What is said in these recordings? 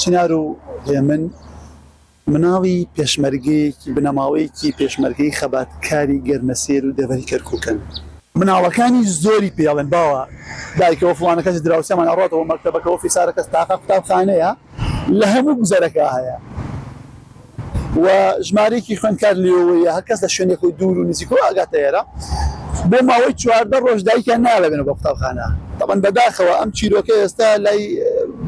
چنار و هێمن مناڵی پێشمەرگەیەکی بنەماڵەیەکی پێشمەرگەی خەباتکاری گەرمەسێر و دەڤەری کەرکوکن. مناڵەکانی زۆری پێ ئەڵێن باوە دایکە و فڵانە کەس دراوسێمان ئەڕاتەوە مەکتەبەکە و فیسارەکەس تاقە قوتابخانەیە لە هەموو گوزەرەکە هەیە. و ژمارەیەکی خوێندکار لێوەیە هەر کەس لە شوێنی خۆی دوور و نزیکەوە ئەگاتە ئێرە بۆ ماوەی چواردە ڕۆژ دایکیان نایە ببێنە بۆ قوتابخانە تەبەن بەداخەوە ئەم چیرۆکە ئێستا لای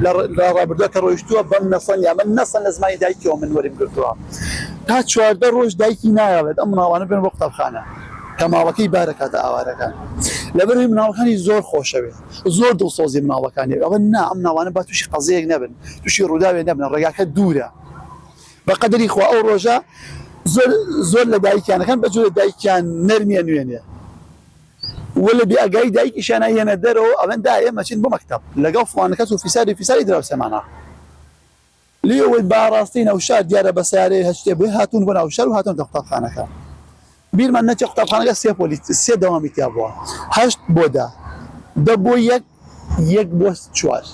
لە ڕابردووە کە ڕۆیشتووە بەم نەسەن یا من نەسەن لە زمانی دایکیەوە من وەریم گرتووە تا چواردە ڕۆژ دایکی نایڵێت ئەم مناڵانە بێن بۆ قوتابخانە کە ماڵەکەی بارەکاتە ئاوارەکان لەبەروی مناڵەکانی زۆر خۆشەوێت زۆر دڵسۆزی مناڵەکانی ئەوە نا ئەم ناوانە با تووشی قەزەیەک نەبن تووشی ڕووداوێ نەبنە ڕێگاکە دوورە بەقەدری خوا ئەو ڕۆژە زۆر زۆر لە دایکیان ئەکەن بەجۆرێ دایکیان نەرمی ئەنوێنێ و لە بێ ئەگای دایکیشیان ئەیەنە دەرەوە ئەڵێن دا ئێمە چین بۆ مەکتەب لەگەڵ فڵان کەس و فیساری فیساری دراوسێمانە لێ ئەوەی با ڕاستی نەوشار دیارە بە سەیارەی هەشتێ بۆی هاتوون بۆ ناوشار و هاتوونەتە قوتابخانەکە. بیرمان نەچێت قوتابخانەکە سێ پۆلی سێ دەوامی تیا بووە هەشت بۆ دە دە بۆ یەک یەک بۆ چوار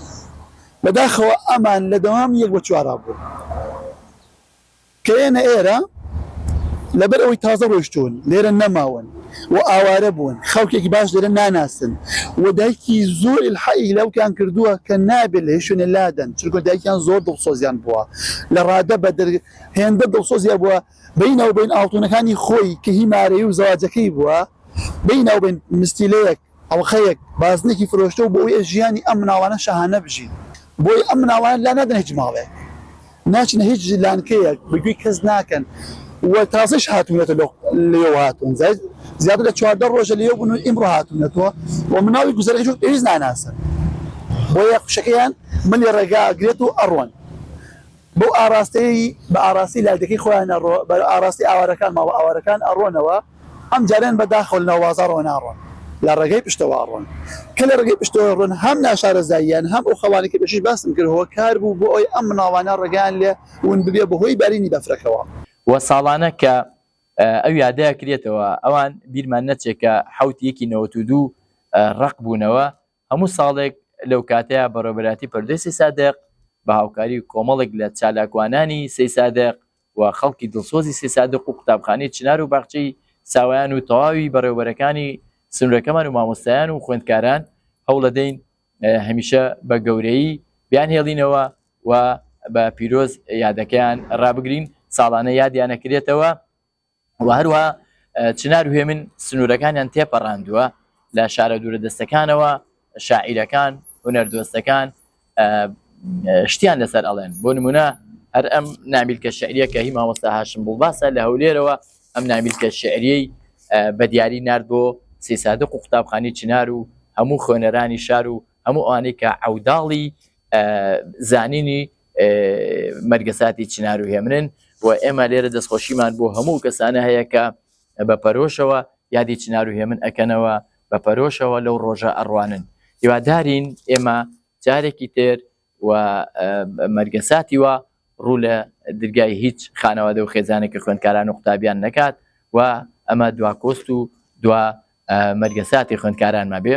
بەداخەوە ئەمان لە دەوام یەک بۆ چوارا بوو کەێنە ئێرە لەبەر ئەوەی تازە ڕۆشتون لێرە نەماون و ئاوارە بوون خەڵکێکی باش لێرە ناناسن و دایکی زۆر الحەی لەوکان کردووە کە نابێت لە شوێنە لادەن چونکە دایکیان زۆر دڵسۆزیان بووە لە ڕادە بە هێندە دڵسۆزیان بووە بەی ناوبەین ئاڵتونەکانی خۆی کە هی مارەیی و زەواجەکەی بووە، بەی ناوبەین مستیلەیەک، ئەڵقەیەک، بازنەکی فرۆشتە و بۆ ئەوەی ژیانی ئەم مناڵانە شاهانە بژین، بۆی ئەم مناڵانە لا نادەنە هیچ ماڵێک، ناچنە هیچ لانکەیەک، بە گوێی کەس ناکەن و تازەیش هاتوونەتەوە لەوێ هاتوون، زیاتر لە چواردە ڕۆژە لەوێ بوون و ئیمڕۆ هاتوونەتەوە و مناڵی گوزەرەکەی وەک پێویست ناناسن، بۆیە خوشکەکەیان ملی ڕێگا ئەگرێت و ئەڕۆن. بەو ئاڕاستەیەی بە ئاڕاستەی لادێکەی خۆیان ئەڕۆ بە ئاڕاستەی ئاوارەکان ماڵە ئاوارەکان ئەڕۆنەوە ئەم جارەیان بە داخەوە لە ناو بازاڕەوە ناڕۆن لە ڕێگەی پشتەوە ئەڕۆن کە لە ڕێگەی پشتەوە ئەڕۆن هەم ناشارەزاییان هەم ئەو خەڵانەی کە پێشتریش باسم کرد هۆکار بوو بۆ ئەوەی ئەم مناڵانە ڕێگەیان لێ ون ببێ بە هۆی بارینی بەفرەکەوە. وە ساڵانە کە ئەو یادە ئەکرێتەوە ئەوان بیرمان نەچێ کە حەوت یەکی نەوەت و دوو ڕەق بوونەوە هەموو ساڵێک لەو کاتەیا بەڕێوەبەرایەتی پەروەردەی سیسادق بە هاوکاری کۆمەڵێک لە چالاکوانانی سیسادق و خەڵکی دڵسۆزی سیسادق و قوتابخانەی چنار و باخچەی ساوایان و تەواوی بەڕێوەبەرەکانی سنوورەکەمان و مامۆستایان و خوێندکاران هەوڵەدەین هەمیشە بە گەورەیی بیان هێڵینەوە و بە پیرۆز یادەکەیان ڕابگرین ساڵانە یادیانەکرێتەوە و هەروەها چنار و هێمن سنوورەکانیان تێپەڕاندووە لە شارە دوورە دەستەکانەوە شاعیرەکان هونەردۆستەکان شتیان لەسەر ئەڵێن بۆ نمونە هەر ئەم نامیلکە شعریە کە هی مامۆستا هاشم بڵباسە لە هەولێرەوە ئەم نامیلکە شعریەی بە دیاری نرد بۆ سیسادق و قوتابخانی چنار و هەموو خوێنەرانی شار و هەموو ئەوانەی کە عوداڵی زانینی مەرگەساتی چنار و هێمنن و ئێمە لێرە دەستخۆشیمان بۆ هەموو کەسانە هەیە کە بە پەرۆشەوە یادی چنار و هێمن ئەکەنەوە بە پەرۆشەوە لەو ڕۆژە ئەڕوانن هیوادارین ئێمە جارێکی تر و مەرگەساتی وە ڕوو لە درگای هیچ خانەوادە و خێزانێکی خوێندکاران و قوتابیان نەکات و ئەمە دواکۆست و دوا مەرگەساتی خوێندکارانمە بێ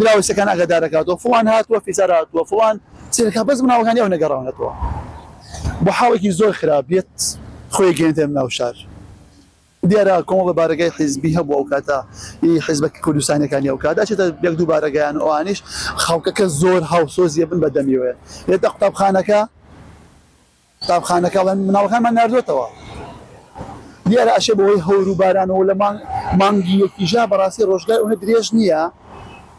دراوسێکان ئاگاداردەکاتەوە فڵان هاتووە فیسار هاتووە فڵان سیرکە بەس مناڵەکانی ئەو نەگەڕاونەتەوە بۆ حاڵێکی زۆر خراپ بێت خۆی گەێنێن ناو شار دیارە کۆمەڵە بارگای حیزبی هەبوو ئەو کاتە حیزبە کوردستانەکانی ئەو کات ئەچێتە یەک دوو بارەگەیان ئەوانیش خەڵکەکە زۆر هاوسۆزیە بن بە دەمیوێ لێتە قوتابخانەکە قوتابخانەکە بە مناڵەکانمان ناردۆتەوە دیارە ئەشێ بەوەی هەور و بارانەوە لە مانگ مانگی یەکیژا بەڕاستی ڕۆژگای ئەونە درێژ نییە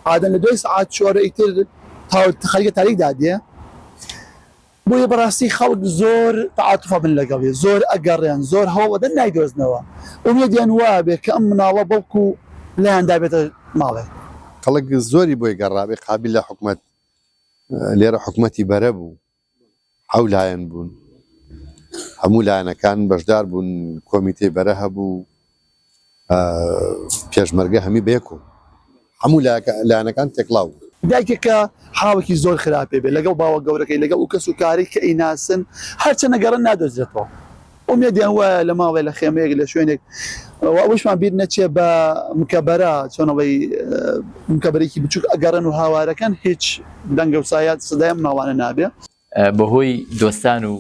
ئادەن لە دوای سعات چۆرە ئیتر تاخەریکە تاریک دادێ بۆیە بەڕاستی خەڵک زۆر تعاتفە بن لەگەڵێ زۆر ئەگەڕێن زۆر هەوڵەدەن نایدۆزنەوە ئومێدیان وابێ کە ئەم مناڵە بەڵکو لایان دابێتە ماڵێ خەڵک زۆری بۆی گەڕابێ قابل لە حکومت لێرە حکومەتی بەرە بوو حەو لایەن بوون هەموو لایەنەکان بەشدار بوون کۆمیتەی بەرە هەبوو پێشمەرگە هەمی بەیەکۆ هەموو لایەنەکان تێکڵاو دایکێک کە حاڵکی زۆر خراپێ بێ لەگەڵ باوە گەورەکەی لەگەڵ و کەس و کاری کە ئیناسن هەرچەنە گەڕن نادۆزرێتەوە ئومێدیان وایە لە ماڵێ لە خێمەیەک لە شوێنێک و ئەوەشمان بیر نەچێ بە مکەبەرا چۆن ئەڵێی مکەبەرێکی بچووک ئەگەڕێن و هاوارەکەن هیچ دەنگە و سایات سەدای ئەم ماڵانە نابێ. بەهۆی دۆستان و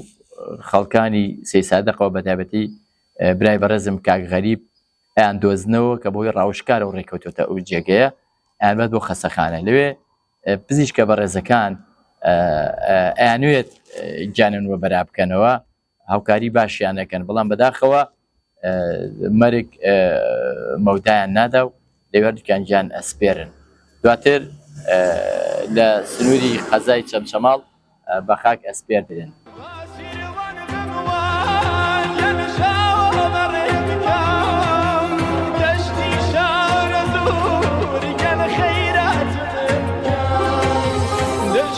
خەڵکانی سەیسادەقەوە بەتایبەتی برای بەڕێزم کاک غەریب ئەیان دۆزنەوە کە بۆی ڕاوشکارە و ڕێکەوتۆتە ئەو جێگەیە ئەمەد بۆ خەسەخانە لەوێ پزیشکە بەڕێزەکان ئەیانوێت گیانن وە بەرابکەنەوە هاوکاری باشیان نەکەن بەڵام بەداخەوە مەرگ مەودایان نادا و لەوێردکان گیان ئەسپێرن دواتر لە سنووری قەزای چەمچەماڵ بە خاک ئەسپێر درێن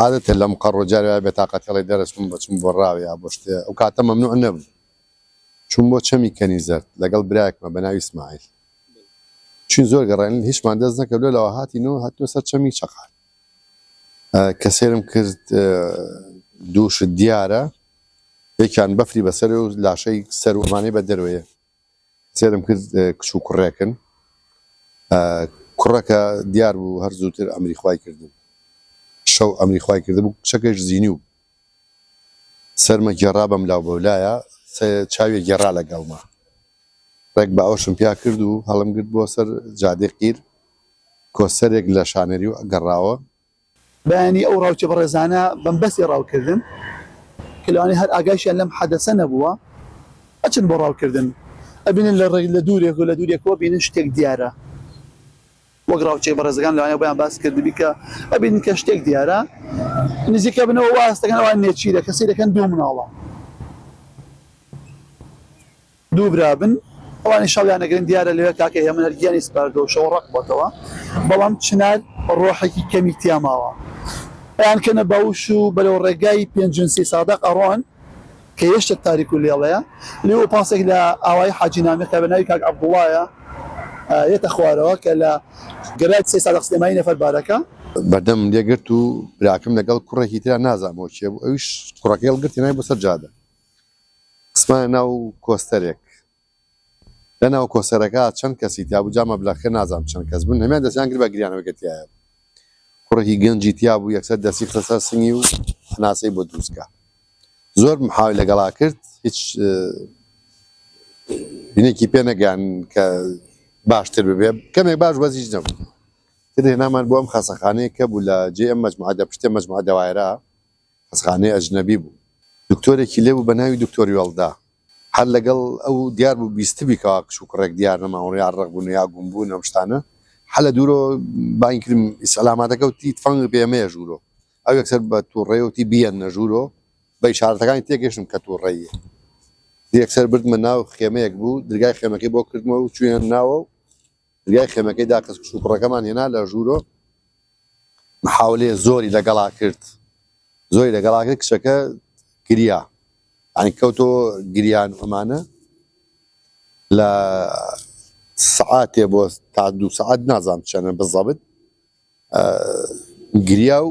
عادەتە لەم قەڕۆ جار وایە بێتاقەتی ئەڵێی دەرەچووم بە چووم بۆ ڕاو یا بۆ شتێ ئەو کاتە مەمنوع نەبوو چووم بۆ چەمی کەنی زەرد لەگەڵ برایەکمە بە ناوی سمایل چین زۆر گەڕێن هیچمان دەست نەکردو لەوە هاتین و هاتنە سەر چەمی چەقال کە سێرم کرد دووشت دیارە یەکیان بەفری بەسەر و لاشەی سەر ومانەی بە دەروەیە سێرم کرد کچ و کوڕێکن کوڕەکە دیار بوو هەر زووتر ئەمری خوای کردبوو شەو ئەمری خوای کردبوو کچەکەش زینی و سەرمە گێڕا بەم لاو بەولایە چاویە گێڕا لەگەڵمە ڕێک باوەشم پیا کرد و هەڵم گرت بۆ سەر جادێ قیر کۆسەرێک لە شانەری و گەڕاوە بەیانی ئەو ڕاوچە بەڕێزانە بەمبەستی ڕاوکردن کە لەوانەیە هەر ئاگایشیان لەم حەدەسە نەبووە ئەچن بۆ ڕاوکردن ئەبینن لە ڕێ لە دوورێک و لە دوورێکەوە ئەبینن شتێک دیارە وەک ڕاوچەی بەڕێزەکان لەوانەیە بۆیان باس کردبی کە ئەبینن کە شتێک دیارە نزیکە بنەوە واستەکەن ئەوان نێچیرە کەسی دەکەن دوو مناڵە دوو برا بن ئەوانیش شەڕیان ئەگرن دیارە لەوێ کاکە هێمن هەر گیانی سپاردووە و شەو ڕەق بۆتەوە بەڵام چنار ڕۆحێکی کەمی تیا ماوە ئەیان کەنە باوش و بەرەو ڕێگای پێنجونسی سادەق ئەڕۆن کە هێشتە تاریک و لێڵەیە لێوە پاسێک لە ئاوایی حاجی نامی کە بە ناوی کاک عەبدوڵایە یەتە خوارەوە کە لە گەرای قسەی سادەق سلێمانی نەفەر بارەکە بەردەمم لێ گرت و براکەم لەگەڵ کوڕێکی ترا نازام بۆ کێ بوو ئەویش کوڕەکەی هەڵگرت هێنای بۆ سەر جادە. خستمایە ناو کۆستەرێک لە ناو کۆسەرەکە چەند کەسی تیابوو جا مەبلەغکە نازام چەند کەس بوون هەمیان دەستیان کرد بە گریانەوەی کە تیایە بوو کوڕێکی گەنجی تیابوو یەکسەر دەستی خستە سەر سنگی و هەناسەی بۆ دروستکە زۆر محاوی لەگەڵا کرد هیچ بینێکی پێ نەگەیان کە باشتر ببێ کەمێک باش بەزیش نەبوو ترێ نامان بۆ ئەم خەسەخانەیە کە بوو لە جێ ئەم مەجموعە دە پشتێ مەجموعە دەوایرە خەستخانەی ئەجنەبی بوو. دکتۆرێکی لێبوو بە ناوی دکتۆر یۆڵدا. هەر لەگەڵ ئەو دیار بوو بیستبی کەوا کچ و کوڕێک دیار نەماون یا ڕەق بوون یا گوم بوون ئەم شتانە. هەر لە دوورەوە بانگی کردم ئیسعلاماتەکە وتی تفەنگ پێ مەیە ژوورۆ. ئەو یەکسەر بە تووڕەیی وتی بیەننە ژوورۆ. بە ئیشارەتەکانی تێگەیشتم کە تووڕەییە. یەکسەر بردمە ناو خێمەیەک بوو درگای خێمەکەی بۆ کردمەوە و چووینە ناوە و درگای خێمەکەی داخست کچ و کوڕەکەمان هێنا لە ژوورۆ محاولەیە زۆری لەگەڵا کرد زۆری لەگەڵا کرد کچەکە گریا عنی کەوتۆ گریان ئەمانە لە سعاتێ بۆ تا دوو سعات نازانم چەنە بزەبت گریا و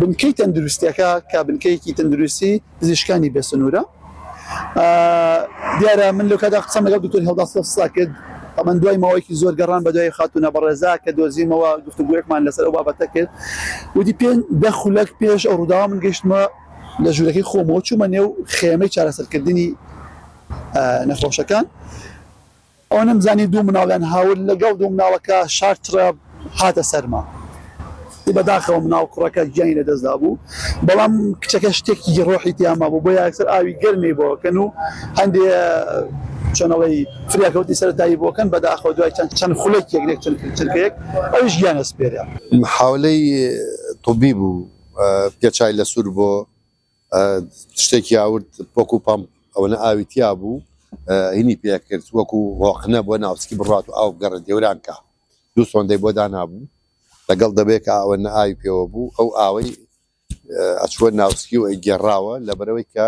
بنکەی تەندروستیەکە کە بنکەیەکی تەندروستی پزیشکانی بێ سنوورە دیارە من لەو کادا قسەم لەگەڵ دکتۆر هەڵداستا کرد ئەمەند دوای ماوەیەکی زۆر گەڕان بە دوای خاتونە بەڕێزا کە دۆزیمەوە گفتوگوێکمان لەسەر ئەو بابەتە کرد ودی پێ دە خولەک پێش ئەو ڕووداوە من گەشتمە لە ژوورەکەی خۆمەوە چوومە نێو خێمەی چارەسەرکردنی نەخۆشەکان ئەوە نەمزانی دوو مناڵیان هاورد لەگەڵ دوو مناڵەکە شار تڕەپ هاتە سەرما ی بەداخەوە مناڵ کوڕەکە گیانی لەدەستدابوو بەڵام کچەکە شتێکی ڕۆحی تیامابوو بۆیە ئەکسەر ئاوی گەرمی بۆکەن و هەندێ چۆنەڵی فریاکەوتی سەرەتایی بۆکەن بەداخەوە دوای چەند چەند خولەکێک نێک چەند چرکەیەک ئەویش گیان ئەسپێرێ. محاولەی طوبی بوو پێ چای لە سور بۆ تشتێکی ئاورد وەکو پەمپ ئەوەنە ئاوی تیا بوو هینی پێکرد وەکو هۆقنە بۆ ناوچکی بڕات و ئاو بگەڕێت دێوران کا دوو سۆندەی بۆ دانابوو لەگەڵ دەبێت کە ئەوەنە ئاوی پێوە بوو ئەو ئاوەی ئەچووە ناوچکی و گێڕاوە لەبەرەوەی کە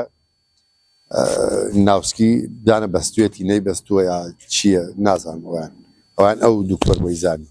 ناوسکی دانە بەستێتی نەی بەستووە یا چییە نازانوان ئەوان ئەو دکتۆر بۆی زانی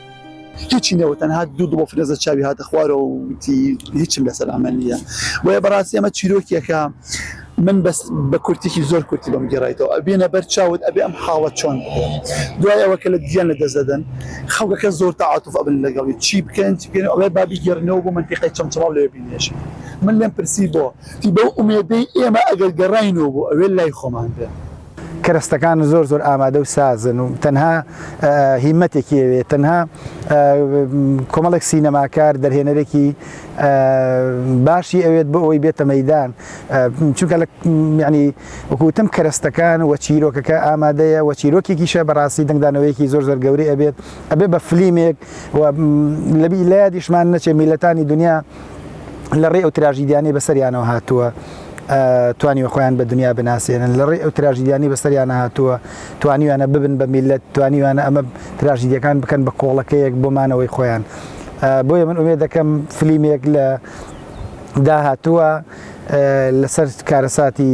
هیچی نەوت تەنها دوو دڵۆ فرێزە چاوی هاتە خوارەوە و وتی هیچم لەسەر ئەمە نییە بۆیە بەڕاستی ئەمە چیرۆکێکە من بەس بە کورتێکی زۆر کورتی بەم گێڕایتەوە ئەبێنە بەر چاوت ئەبێ ئەم حاڵە چۆن دوای ئەوە کە لە گیان لە دەست دەدەن خەڵکەکە زۆر تەعاتوف ئەبن لەگەڵی چی بکەن چی بکەن ئەڵێ بابی گێڕنەوە بۆ منتیقی چەمچەماڵ لێ بینێژن من لێم پرسی بۆ تی بەو ئومێدەی ئێمە ئەگەر گەڕاینەوە بۆ ئەوێ لای خۆمان بێ کەرەستەکان زۆر زۆر ئامادە و سازن و تەنها هیمەتێکی ئەوێ تەنها کۆمەڵێک سینەماکار دەرهێنەرێکی باشی ئەوێت بۆ ئەوەی بێتە مەدان چونکە لە ینی وەکوتم کەرەستەکان وە چیرۆکەکە ئامادەیە وە چیرۆکێکیشە بەڕاستی دەنگدانەوەیەکی زۆر زۆر گەوری ئەبێت ئەبێ بە فلیمێک لەبی لادیشمان نەچێ میلەتانی دنیا لە ڕێ ئەو تراژیدیانەی بەسەریانەوە هاتووە توانیوە خۆیان بە دنیا بناسێنن لە ڕێ ئەو تراژیدیانی بەسەریانە هاتووە توانیوانە ببن بە میلەت توانیوانە ئەمە تراژیدیەکان بکەن بە کۆڵەکەیەک بۆمانەوەی خۆیان بۆیە من ئومێ دەکەم فلیمێک لە داهاتووە لەسەر کارەساتی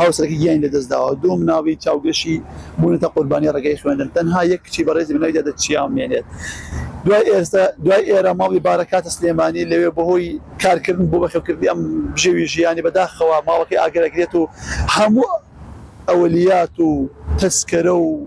هاوسەرەکەی گیانی لەدەستداوە، دوو منداڵی چاوگەشی بوونەتە قوربانیی ڕێگەی خوێندن، تەنها یەک کچی بەڕێزی بە ناوی دادە چیاو مێنێت دوای ئێرە ماڵی بارەکاتە سلێمانی، لەوێ بەهۆی کارکردن بۆ بەخێوکردنی ئەم بژێوی ژیانی بەداخەوە ماڵەکەی ئاگرئەگرێت و هەموو ئەولیات و تەسکەرە و.